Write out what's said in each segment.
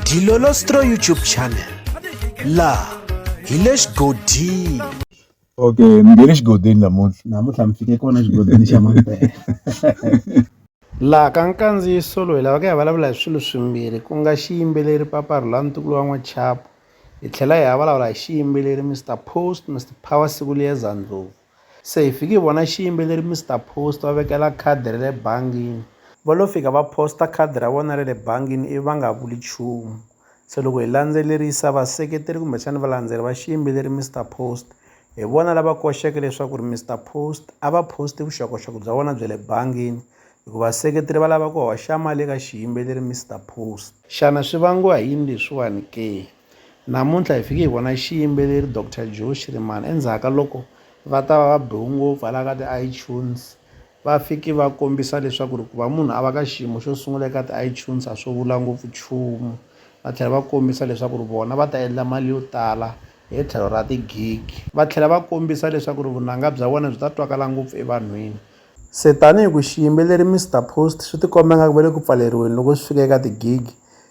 Dilolostro YouTube channel la hi le xigodini okay mi nge le xigodini namuntlha namuntlha mi fike kona xigodini xa mampela laha ka nkandziyiso loyi lava ka hi vulavula hi swilo swimbirhi ku nga xiyimbeleri papa rhula ntukulu wa n'wachapo hi tlhela hi ya vulavula hi xiyimbeleri mr post mr power siku liyeza ndlovu Se hi fike hi vona xiyimbeleri Mister Post va vekela khadi ra le bangini. Va lo fika va post-a khadi ra vona ra le bangini ivi va nga vuli nchumu. Se loko hi landzelerisa vaseketeri kumbexana valandzeri va xiyimbeleri Mister Post hi vona lava koxeke leswaku ri Mister Post a va post-i vuxokoxoko bya vona bya le bangini hikuva vaseketeri va lava ku hoxa mali eka xiyimbeleri Mister Post. Xana swi vangiwa hi yini leswiwani ke? Namuntlha hi fike hi vona xiyimbeleri Doctor Joe Shirimani endzhaku ka loko va ta va va biwe ngopfu hala ka ti-iTunes va fike va kombisa leswaku ri ku va munhu a va ka xiyimo xo sungula eka ti-iTunes a swo vula ngopfu nchumu va tlhela va kombisa leswaku ri vona va ta endla mali yo tala hi tlhelo ra ti-gig va tlhela va kombisa leswaku ri vunanga bya vona byi ta twakala ngopfu evanhwini Se tanihi ku xiyimbeleri Mister Post swi tikomba nga ku va le ku pfaleriweni loko swi fika eka ti-gig,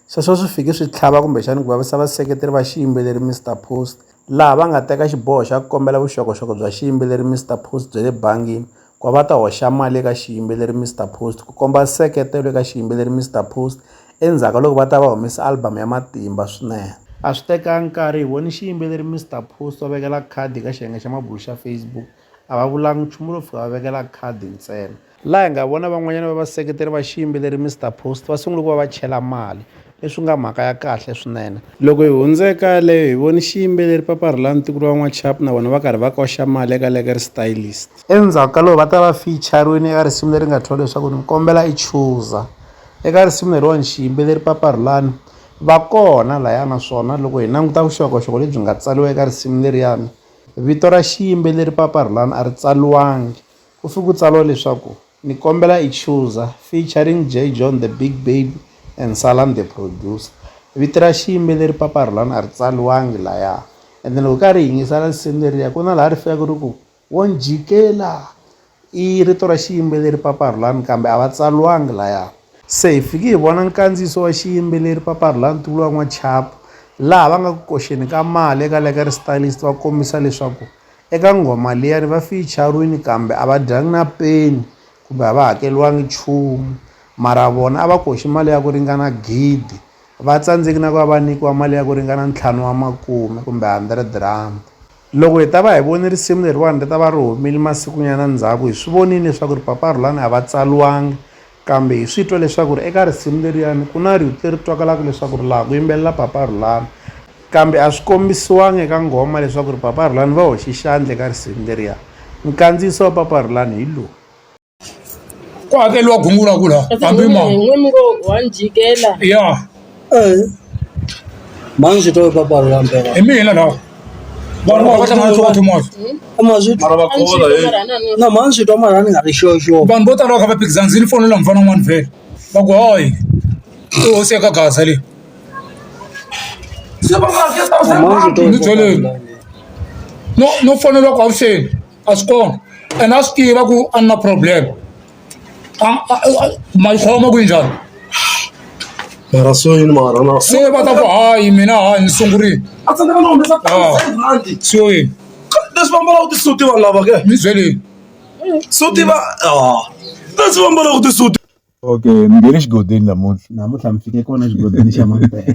sweswo swi fike swi tlhava kumbexani ku vavisa vaseketeri va xiyimbeleri Mister Post laha va nga teka xiboho xa ku kombela vuxokoxoko bya xiyimbeleri Mister Post bya le bangini ku va va ta hoxa mali eka xiyimbeleri Mister Post ku komba nseketelo eka xiyimbeleri Mister Post endzhaku ka loko va ta va humesa album ya matimba swinene. A swi tekanga nkarhi hi vone xiyimbeleri Mister Post va vekela khadi eka xiyenge xa mabulo xa Facebook A va vulangi nchumu lo fika va vekela khadi ntsena. Laha hi nga vona van'wanyana va vaseketeri va xiyimbeleri Mister Post va sungule ku va va chela mali, leswi nga mhaka ya kahle swinene. Loko hi hundzeka yaleyo, hi vone xiyimbeleri Papa Rhulani Ntukulu wa N'wachapu na vona va karhi va koxa mali eka Lekker Stylist. Endzhaku ka loko va ta va feature-riwini eka risimu leri nga thyiwa leswaku Ni Kombela I Chuza. Eka risimu leriwani xiyimbeleri Papa Rhulani va kona lahaya naswona loko hi languta vuxokoxoko lebyi nga tsariwa eka risimu leriyani, Vito ra xiyimbeleri Papa Rhulani a ri tsaliwangi, ku fike ku tsariwa leswaku Ni Kombela I Chuza featuring Jay John The Big Baby and Salam The Producer. Vito ra xiyimbeleri Papa Rhulani a ri tsaliwangi laya and loko hi karhi hi yingisela risimu leriya ku na laha ri fikaka ri ku, Wo ni jikela, I rito ra xiyimbeleri Papa Rhulani kambe a va tsaliwangi laya. Se hi fike hi vona nkandziyiso wa xiyimbeleri Papa Rhulani Tuvula N'wachapu laha va nga ku koxeni ka mali eka Lekker Stylist va kombisa leswaku eka nghoma liyani va fiyicharini kambe a va dyangi na peni kumbe a va hakeriwangi nchumu mara vona a va koxi mali ya ku ringana gidi va tsandzeki na ku va va nyikiwa mali ya ku ringana ntlhanu wa makume kumbe hundred rhandi. Loko hi ta va hi vone risimu leriwani ri ta va ri humile masikunyana ndzhaku, hi swi vonile leswaku ri Papa Rhulani a va tsaliwangi, kambe hi swi twa leswaku ri eka risimu leriyani ku na rito leri twakalaka leswaku ri laha ku yimbelela Papa Rhulani, kambe a swi kombisiwanga eka nghoma leswaku ri Papa Rhulani va hoxe xandla eka risimu leriya. Nkandziyiso wa Papa Rhulani hi lowu. ku hakeriwa gungula ku laha hambi ma n'wini ngo wa ni jikela ya Eh. Manje swi twa papa ri ambela. hi mina lawa vanhu va kota mali swa timali Ama swi mara va a ni khola jikela he marana ni na manje swi twa mara ni nga ri sure sure. vanhu vo tala va kha va phikizana ndzi ni fonela mufana un'wana vhele va ku hayi i hosi ya ka gaza leyi Manje swi twa Ni byeleni. papa. no no fonela ku avuxeni a swi kona ene a swi tiva ku a ni na problem ma yi khoma ku yi njhani mara so yini mara na se va ta ku hayi mina hayi ni sungurile a tsandzeka na humesa rhandi sio yini leswi va ambalaka tisuti vanhu lava ke mi byeleni suti va leswi va ambalaka tisuti okay mi nghene xigodini namuntlha namuntlha mi fike kona xigodini xa mampela